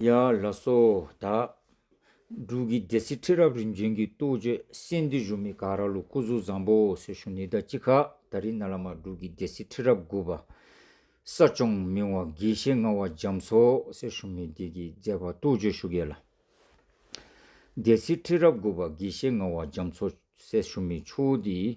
ཡ། ལ་སོ། དག། འབྲུག་གི་སྡེ་སྲིད་ཁྲི་རབས་རིམ་བྱོན་གྱི་གཏུགས་བརྗོད་གསེར་འདི་བཞུགས་མི་ག་ར་ལུགས་སྐུ་གཟུགས་བཟང་པོ་སེར་ཤུ་ནི་ད་ཅི་ཁ་ད་རི་ན་ལ་མ་འབྲུག་གི་སྡེ་སྲིད་ཁྲི་རབས་དགུ་པ། ས་སྐྱོང་མིང་བ་དགེ་བཤེས་ལྔ་བ་འཇམ་སོགས་སེར་ཤུ་མི་སྡེ་གྱི་མཛད་པ་གཏུགས་བརྗོད་བཞུགས་ཡོད་ལ། སྡེ་སྲིད་ཁྲི་རབས་དགུ་པ་དགེ་བཤེས་ལྔ་བ་འཇམ་སོགས་སེར་ཤུ་མི་ཆུ་བོ་དེའི།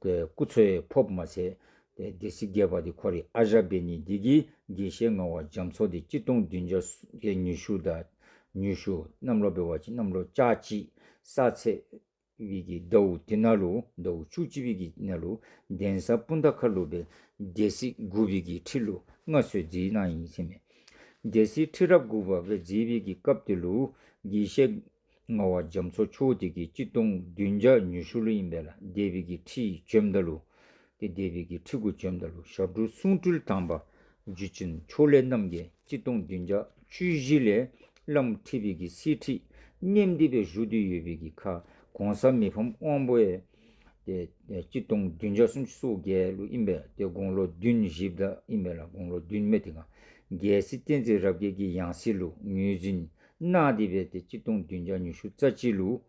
པའི་སྐུ་ཚོའི་ཕོབ་མ་ཚད། སྡེ་སྲིད་རྒྱལ་པ་དེ་ཁོ་རེད་ཨ་ཞཱ་བེ་ནི་སྡེ་དགེའི་དགེ་བཤེས་ལྔ་བ་རྒྱ་མཚོ་སྟེ་སྤྱི་སྟོང་བདུན་བརྒྱ་ཡས་ཉུ་ཤུ་དང། ཉུ་ཤུ། གནམ་ལོ་བེ་བ་ཅི་གནམ་ལོ་ཅཱ་ཅི། ས་ཚེ། བི་གི་ཟླ་འུ་ཏི་ན་ལུ་ཟླ་འུ་ཆུ་ཅི་བི་གི་ན་ལུ། གདན་ས་སྤུན་ཟླ་ཁ་ལུ་བའི། སྡེ་སྲིད་དགུ་བི་གི་ཁྲི་ལུ་ལྔ་ཚོའི་རྫིའི་ནང་ཡིན་ཚེ་མེད། སྡེ་སྲིད་ཁྲི་རབས་དགུ་བ་བའི་རྫིའི་བི་གི་སྐབས་དེ་ལུའུ་དགེ་བཤེས། རྔ་བ་རྒྱ་མཚོ་ཆུ་བོ་དེ་གའི་སྤྱི་སྟོང་བདུན་བརྒྱ་ཉི་ཤུ་ལོ་ཡིན་པས་ལ་སྡེ་བི་གི་ཁྲི་ཡི་བཅོམ་ཟླ་ལུ། ཏི་སྡེ་བི་གི་ཁྲི་གུ་བཅོམ་ཟླ་ལུ་ཞབས་དྲུང་གསུང་སྤྲུལ་དམ་པ་འཇུ་ཆེན་ཕྱོགས་ལས་རྣམ་རྒྱལ་སྤྱི་སྟོང་བདུན་བརྒྱ་བཅུ་བཞི་ལས་བླ་མུ་ཁྲི་བི་གི་སྲས་ཁྲི་སྙེམས་སྡེ་བའི་བཞུགས་དུས་ཡོད་བི་གི་ཁ་གོང་ས་མི་ཕམ་དབང་པོ་ཨེ། ཏི་སྤྱི་སྟོང་བདུན་བརྒྱ་སུམ་ཅུ་སོ་བརྒྱད་ལོ་ཡིན་པས་ཏི་དགུང་ལོ་བདུན་བཞི་བདག་ཡིན་པས་ལ་དགུང་ལོ་བདུན་མེ་ཏི་རྒྱལ་སྲིད་བསྟན་འཛིན་རབ་རྒྱས་ཀྱི་ཡང་སྲིད་ལུ་ངུའི་འཛིན་སྣ་དེ་བས་ཏེ་གཅིག་སྟོང་བདུན་བརྒྱ་ཉི་ཤུ་རྩ་གཅིག་ལུ།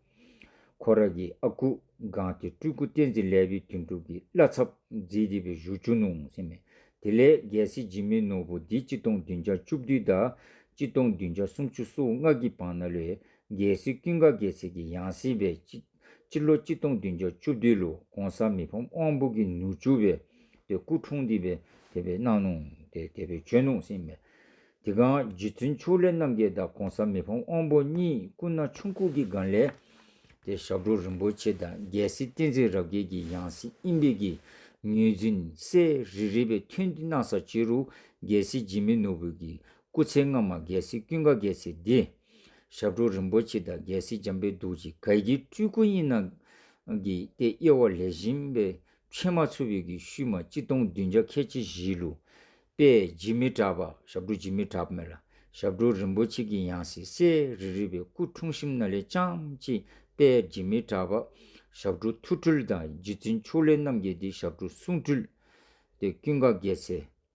ཁོ་ར་གི་ཨ་ཁུ་གངས་ཏེ་སྤྲུལ་སྐུ་བསྟན་འཛིན་ལས་བི་དུན་གྲུབ་ཀྱི་བླ་ཚབ་རྫིས་དེ་བས་བཞུ་བཅུ་ནུ་སེམས་མེད་དེ་ལས་རྒྱལ་སྲིད་འཇིགས་མེད་ནོར་བུ་འདི་གཅིག་སྟོང་བདུན་བརྒྱ་བཅུ་བདུན་དང་གཅིག་སྟོང་བདུན་བརྒྱ་སུམ་ཅུ་སོ་ལྔ་གི་བང་ན་ལོའི་རྒྱལ་སྲིད་ཀུན་དགའ་དགེ་ཚེ་གྱི་ཡང་སྲིད་པའི་སྤྱི། སྤྱི་ལོ་གཅིག་སྟོང་བདུན་བརྒྱ་བཅུ་བདུན་ལོ ྋགོང་ས་མི་ཕམ་དབང་པོ་གིས་ནུ་ཆུ་བའི་སྐུ་འཁྲུངས་འདི་པའི་དེ་པའི་གནང་གནོང་དེ་དེ་པའི་ཆོས་གནོང་སིང་མེད། དེ་གང་རྗེ་བཙུན་ཕྱུག་ལས་རྣམ་རྒྱལ་དང ྋགོང་ས་མི་ཕམ་དབང་པོ་གཉིས་སྐུ་ན་ཆུང་སྐུ་གི་སྒང་ལས། དེ་ཞབས་དྲུང་རིན་པོ་ཆེ་དང་རྒྱལ་སྲིད་བསྟན་འཛིན་རབ་རྒྱས་ཀྱི་ཡང་སྲིད་ཨིན་བེ་ཀི་ངོས་འཛིན་སེ་རི་རི་བའི་ཐུན་འདི་གནང་ས་ཕྱི་རུ་རྒྱལ་སྲིད་འཇིགས་མེད་ནོར་བུ་གིས་སྐུ་ཚེ་སྔ་མ་རྒྱལ་སྲིད་ཀུན་དགའ་རྒྱལ་སྲིད་འདི། ཞབས་དྲུང་རིན་པོ་ཆེ་དང་རྒྱལ་སྲིད་འཇམ་པའི་གདུགས་ཀྱི་གར་གྱི་སྤྲུལ་སྐུ་གཉིས་ནང་གི་སྟེ་དབྱེ་བ་ལས་གཞན་པའི་ཕྱེ་མ་ཆུ་བོད་ཀྱི་ཤུལ་མ་སྤྱི་སྟོང་བདུན་བརྒྱ་ཁལ་གཅིག་བཞིའི་ལུགས། པས་བརྗིད་མི་བྲབ་པ་ཞབས་དྲུང་བརྗིད་མི་བྲབ་མེད་ལ་ཞབས་དྲུང་རིན་པོ་ཆེ་གི་ཡང་སྲིད་གསེར་རི་རི་བའི་སྐུ་འཁྲུངས་གཤིམ་ན་ལེ་ལྕམ་གཅིག་པས་བརྗིད་མི་བྲབ་པ་ཞབས་དྲུང་ཐུགས་སྤྲུལ་དང་རྗེ་བཙུན་ཕྱོགས་ལས་རྣམ་རྒྱལ་འདི་ཞབས་དྲུང་གསུང་སྤྲུལ། ཏེ་ཀུན་དགའ་རྒྱལ་སྲིད།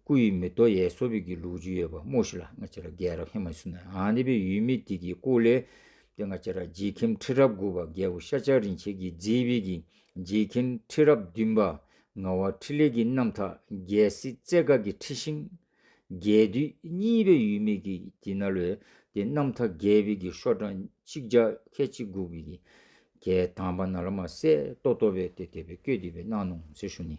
སྐུ་ཡི་མི་རྡོ་ཡས་སོ་བོད་ཀྱི་ལུགས་ཇུས་ཡོད་པ་རྨོ་ཞིག་ལ་ང་ཅི་ར་རྒྱལ་རབས་ཧི་མ་སུ་ནའི་ཨང་ནི་པའི་ཡུལ་མི་དིག་གི་སྐུ་ལས་དེ་ང་ཅི་ར་རྗེ་ཁིམ་ཁྲི་རབས་དགུ་བ་རྒྱལ་བོ་ཤ་ཆག་རིན་ཆེ་གི་རྗེས་དཔེ་གི་རྗེ་ཁིམ་ཁྲི་རབས་བདུན་པ་ངག་བ་ཁྲི་ལས་ཀྱི་རྣམ་ཐག་རྒྱལ་སྲིད་རྩེ་དགའ་གི་ཁྲི་ཤིང། རྒྱལ་བདུད་གཉིས་པའི་ཡུལ་མི་གི་དི་ན་ལོའི་དེ་རྣམ་ཐག་རྒྱལ་བི་གི་ཤོ་ཀྲང་ཆིག་ཇག་ཁལ་ཆིག་དགུག་བི་གི་གལ་དང་པ་ན་ལ་མ་སེ་ཏོ་ཏོ་བའི་དེ་དེ་བི་ཀོས་དི་བི་སྣང་ནོང་ཚེ་ཤུ་ནི།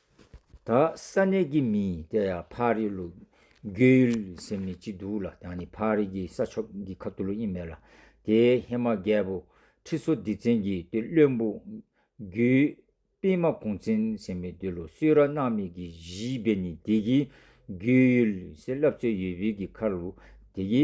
དག་ས་གནས་ཀྱི་མི་དེ་ཡང་ཕ་རི་ལུག་རྒྱུད་ཡུལ་སེམས་ནི་གཅིག་འདུག་ལ་དང་ནི་ཕ་རི་གི་ས་ཕྱོགས་ཀྱི་ཁབ་ཏུ་ལུག་གཉིས་མེད་ལ། དེའི་ཧེ་མ་རྒྱལ་པོ་ཁྲི་སོ་སྡེ་བཙན་གྱི་དུས་བློན་པོ་རྒྱུད་པི་མ་གུང་བཙན་སེམས་པའི་དུས་ལོ་སུས་ར་གནག་མིག་གི་བཞི་པའི་ནི་དེ་གི་རྒྱུད་ཡུལ་སེ་བསླབ་རྩོད་ཡོད་བུལ་གྱི་མཁར་ལུག་དེ་གི།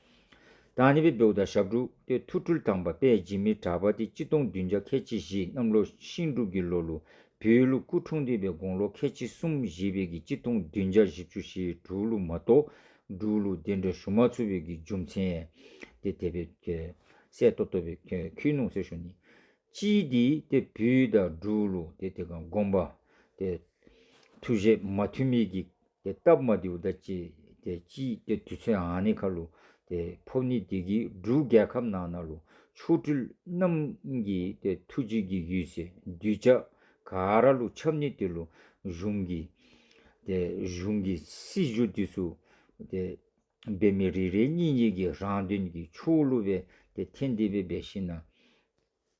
དང་ནི་བེ་བེའུ་དང་ཞབས་དྲུག་སྟེ་ཐུགས་སྤྲུལ་དང་པ་པས་འཇིགས་མེད་གྲགས་པ་སྟེ་སྤྱི་སྟོང་བདུན་བརྒྱ་ཁལ་ཆེ་བཞི་གནམ་ལོ་ཤིང་སྒྲུབ་ཀྱི་ལོ་ལུགས་བོད་ལུགས་སྐུ་འཁྲུངས་འདུས་པའི་དགུང་ལོ་ཁལ་ཆེ་གསུམ་བཞི་བརྒྱད་ཀྱི་སྤྱི་སྟོང་བདུན་བརྒྱ་བཞི་བཅུ་ཞེ་དྲུག་ལུགས་མ་གཏོགས་འབྲུག་ལུགས་བདེ་འགྲོ་ཞུ་མ་ཚུར་བོད་ཀྱི་རྒྱུ་མཚན། སྟེ་དེ་བོད་སའི་སྟོད་སྟོད་བོད་ཁུལ་ནུབ་སའི་ཞོ་ནི། སྤྱིའི་འདི་སྟེ་བུ་དང་འབྲུག་ལུགས་སྟེ་དེ་ག་དགོངས་པ། སྟེ། ཐུགས་བཞེད་མ་ཐུགས་མེད་ཀྱི་དེ་སྟབས་མ་དེའུ་ད་ཅི། དེ་ཅི། དེ་དུས་ཚོད་ཨང་ནི་ཁ་ལུ། དེ་ཕོབ་ནི་དེ་གི་འབྲུ་རྒྱལ་ཁབ་ནང་ན་ལུ། ཆོ་འཕྲུལ་རྣམ་གྱི་དེ་ཐུགས་རྗེ་གི་ཡུལ་ཟེ་འདུས་བྱ། ག་ར་ལུ་ཆབ་ནི་དེ་ལུ། གཞུང་གི། དེ་གཞུང་གི་སྲིད་བྱུས་དུས་སུ། དེ། འབེ་མི་རི་རེ་གཉིས་གཉིས་ཀྱི་རང་དོན་གྱི་ཆུ་བོ་ལུ་བས་དེ་ཐེན་དེ་བས་འབེ་ཤི་ན།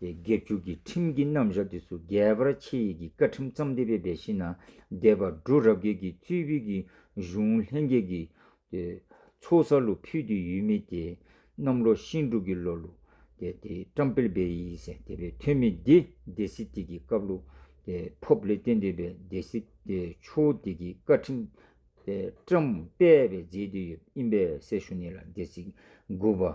དེ་དགེ་བཅུ་གྱི་ཁྲིམས་ཀྱི་རྣམ་བཞག་དུས་སུ་རྒྱས་པར་ཕྱེ་ཡི་གི་བཀའ་ཁྲིམས་བརྩམས་བདེ་བའི་སྦས་ཤིང་ན་བཟླས་པ་འབྲུ་རབ་རྒྱས་ཀྱི་གཙོས་བོད་ཀྱི་གཞུང་ལྷན་རྒྱས་ཀྱི་ཚོགས་གསར་ལུགས་ཕུལ་དུས་ཡུལ་མི་དེ་རྣམས་ལོ་ཤིང་འབྲུག་གི་ལོ་ལུགས་བཀྲམ་སྤེལ་སྦས་ཡིན་ཟེར་དེ་བས་ཐོན་མི་འདི་སྡེ་སྲིད་དེ་གི་སྐབས་ལུགས་ཕོབ་ལས་བསྟན་འདུས་པའི་སྡེ་སྲིད་ཆུ་བོ་དེ་གི་བཀའ་ཁྲིམས་བཀྲམ་སྤེལ་བས་མཛད་དུས་ཡོད་ཨིན་པས་སེར་ཤུ་ནེ་ལ་སྡེ་སྲིད་དགུ་པ།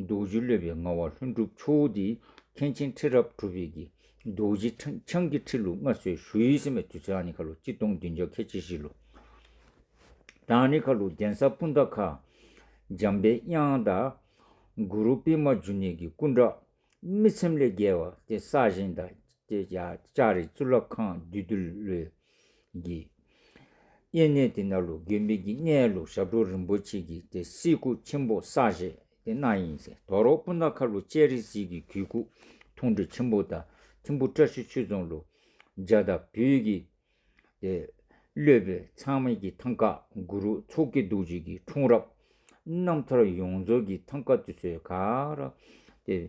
རྡོ་རྗེ་གླུད་པའི་ངང་བ་ལྷུན་གྲུབ་མཆོག་འདི་མཁན་ཆེན་ཁྲི་རབས་དྲུག་པའི་གྱི་རྡོ་རྗེ་འཆང་གི་ཁྲིད་ལུགས་སྔ་སྲོལ་ཞུ་ཡིག་ཟིན་པའི་དུས་ཚོད་ནི་ཁ་ལོ་གཅིག་སྟོང་བདུན་བརྒྱ་ཁ་ཆེ་བཞི་ལོ། དང་ནི་ཁ་ལོ་གདན་ས་སྤུན་ཟླ་ཁག། འཇམ་དཔལ་དབྱངས་དང། གུ་རུ་པི་མ་འཇུ་ནེ་གི་སྐུ་འདྲ། རྨི་ཚེམས་ལས་རྒྱལ་བ་སྟེ་ས་གཞན་དང། ལྕགས་རི་གཙུག་ལག་ཁང་བདུད་འདུལ་བློའི། གྱི། གཡས་གནས་དེ་ན་ལུགས་དགེ་འཕེལ་གྱི་གནས་ལུགས་ཞབས་དྲུང་རིན་པོ་ཆེ་གྱི་དེ་སྲིད་སྐུ་ཆེན་པོ་ས་ཞེས་དེ་གནའ་ཡིན། དོ་རོག་སྤུན་ཟླ་ཁ་ལོ་ཅལ་རི་སིལ་གྱི་གུས་སྐུ་འཐུང་གྲི་ཆེན་པོ་དང་ཐིམ་ཕུ་བཀྲ་ཤིས་ཆོས་རྫོང་ལུགས། འཇའ་དང་བོད་ཀྱི་དེ། གློད་པའི་ཚང་མེད་ཀྱི་ཐང་ཀ་གུ་རུ་ཚོགས་ཀྱི་རྡོ་རྗེ་གྱི་འཁྲུངས་རབས། རྣམ་ཐར་ཡོངས་རྫོགས་ཀྱི་ཐང་ཀ་དུས་ཚོད་ག་རེ།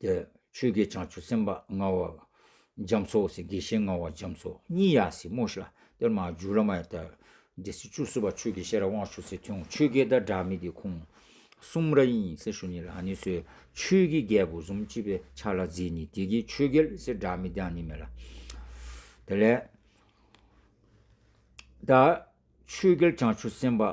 ཏེ། ཆོས་ཀྱི་བྱང་ཆུབ་སེམས་དཔའ་མངའ་བ་འཇམ་སོགས་སེ་དགེ་བཤེས་མངའ་བ་འཇམ་སོགས་གཉིས་ཡ་སེ་མོ་ཤ་ཏིར་མ་འཇུ་ལ་མ་ཡ་ཏཱི་དེ་སེ་བཅུ་སུ་བ་ཆོས་ཀྱི་ཤེས་རབ་དབང་ཕྱུག་སེ་ཐུང་ཆོས་ཀྱི་དག་སྒྲ་མི་དེ་ཁུང་གསུམ་ར་ཡིན་སེ་ཤུ་ནི་ལ་ནི་སོའི་ཆོས་ཀྱི་རྒྱལ་པོ་གཟུམ་གཅིག་པའི་ཆ་ལ་རྫི་ནི་དེ་ཀྱི་ཆོས་གལ་སེ་སྒྲ་མི་དང་ནི་མེ་ལ་དེ་ལས་ཏཱི་ཆོས་གལ་བྱང་ཆུབ་སེམས་དཔའ།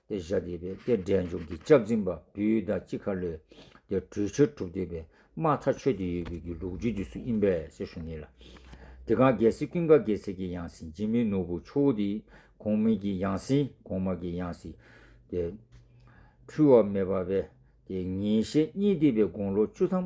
ཏེ་ཞབས་བརྒྱད་པའི་ཏེ་སྒྲའི་མཇུག་གི་སྐྱབས་འཛིན་པ་བུའི་ཟླ་གཅིག་ཁ་ལོའི་ཏེ་གྲོལ་ཕྱིར་གྲུབ་བསྡུས་པའི་མ་མཐའ་ཆོས་ཏེ་ཡོད་པའི་གི་ལུགས་རྒྱུད་དུས་སུ་དབྱིན་པས་ཞེས་ཞུ་ངེས་ལ། དེ་གང་རྒྱལ་སྲིད་ཀུན་དགའ་རྒྱལ་སྲིད་ཀྱི་ཡང་སྲིད་འཇིགས་མེད་ནོར་བུ་ཆུ་བོ་དེ་གོང་མིན་གྱི་ཡང་སྲིད་གོང་མ་གི་ཡང་སྲིད་དེ། འཁྲུལ་བ་མེད་པ་བས་ཏེ་ཉིན་ཞག་གཉིས་བསྡུས་པའི་དགུང་ལོ་བཅུ་ཙམ་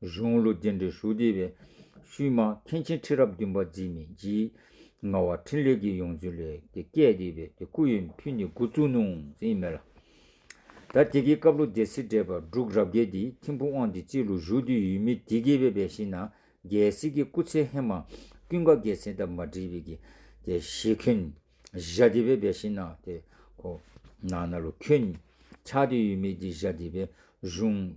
གཞུང་ལུགས་རྒྱས་འབྲེལ་ཞུ་བདེ་བའི་ཤུལ། མ་མཁན་ཆེན་ཁྲི་རབས་བདུན་པ་རྗེ་མི་འཇིགས། ལྔ་བ་ཕྲིན་ལས་ཀྱི་ཡོངས་འཛིན་ལས། དེ་སྐད་བཟླས་པས་དེ་སྐུ་ཡོན་ཕུལ་ནས་དགུ་བཙུན་ནོ། ཟིན་མེད་ལ། ད་དེ་གའི་སྐབས་ལོ་རྒྱལ་སྲིད་བྲལ་བར་འབྲུག་རབ་རྒྱལ་དེའི་ཁྱིམ་ཕུ་དབང་དེ་སྤྱི་ལོ་བཞུགས་དུས་ཡུལ་མི་དེ་གའི་བའི་བས་ཤིང་ན་རྒྱལ་སྲིད་ཀྱི་སྐུ་ཚེ་ཧེ་མ་ཀུན་དགའ་རྒྱལ་སྲིད་ད་མ་བྲིས་པའི་གི། དེ་ཞེས་ཁྱོད། བཞའ་དེ་བའི་བས་ཤིང་ན་དེ། ཁོ། ན་ན་ལོ་ཁྱོད། ཆགས་དུས་ཡུལ་མི་དེ་བཞའ་དེ་བའི་གཞུང།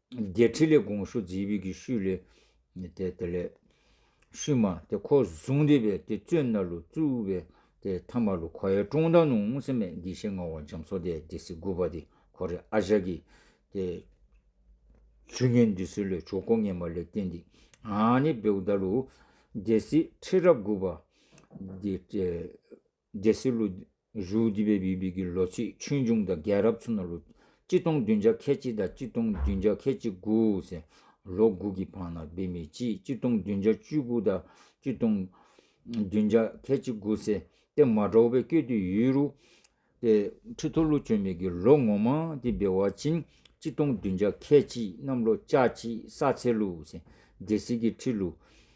བརྒྱད་ཁྲི་ལས་དགོངས་ཞུ་རྫིས་བུས་ཀྱི་ཤུལ་ལས། དེ་དེ་ལས། ཤུལ་མ་དེ་ཁོ་བཟུང་རེ་བས་དེ་བཙོས་སྣར་ལུ་བཙུ་བས་དེ་ཐ་མ་ལུ་ཁོ་ཡའི་ཀྲོང་ད་ནུ་ངུ་སེ་མས་འདི་ཤེ་ང་བ་འཇམ་སོ་དེ་དེ་སི་དགུ་བ་དེ་ཁོ་རེ་ཨ་ཞག་གི་དེ། ཆུ་སྙོན་འདི་སི་ལོས་ཆོ་ཀོ་ངན་པ་ལས་བསྟན་འདི་ཨ་ནི་བེའུ་ད་ལུ་དེ་སི་ཁྲི་རབས་དགུ་བ་དེ། རྒྱལ་སྲིད་ལོ་རྒྱུས་བརྒྱུད་པའི་བི་བི་ཀི་ལོ་ཚིགས་ཆོས་འབྱུང་དང་རྒྱལ་རབས་ཚུ་ན་ལོ་གཅིག་སྟོང་བདུན་བརྒྱ་ཁལ་གཅིག་དང་གཅིག་སྟོང་བདུན་བརྒྱ་ཁལ་གཅིག་དགུ་ཟེར། ལོ་དགུ་གི་བར་ན་བི་མི་ཅིས་གཅིག་སྟོང་བདུན་བརྒྱ་བཅུ་དགུ་དང་གཅིག་སྟོང་བདུན་བརྒྱ་ཁལ་གཅིག་དགུ་ཟེར་ཏེ་མ་གྲོགས་པའི་སྐད་དུ་ཡུས་རུ་ཏེ་ཁྲི་ཐོ་ལོ་བཅོ་མི་ཀི་ལོ་ངོ་མང་དེ་བི་བ་ཅིན་གཅིག་སྟོང་བདུན་བརྒྱ་ཁལ་གཅིག་གནམ་ལོ་ལྕགས་ཀྱི་ས་ཚེ་ལུ་ཟེར་རྒྱལ་སྲིད་ཀི་ཁྲི་ལུ།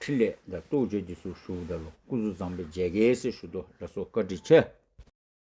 ཕྲིན་ལས་དང་རྟོགས་བརྗོད་ཀྱི་ཟུར་ཞུགས་བརྡ་ལོ་སྐུ་གཟུགས་བཟང་པོའི་མཇལ་ཁའི་སྲི་ཞུ་དུ་ལ་སོགས་བཀའ་དྲིན་ཆེ།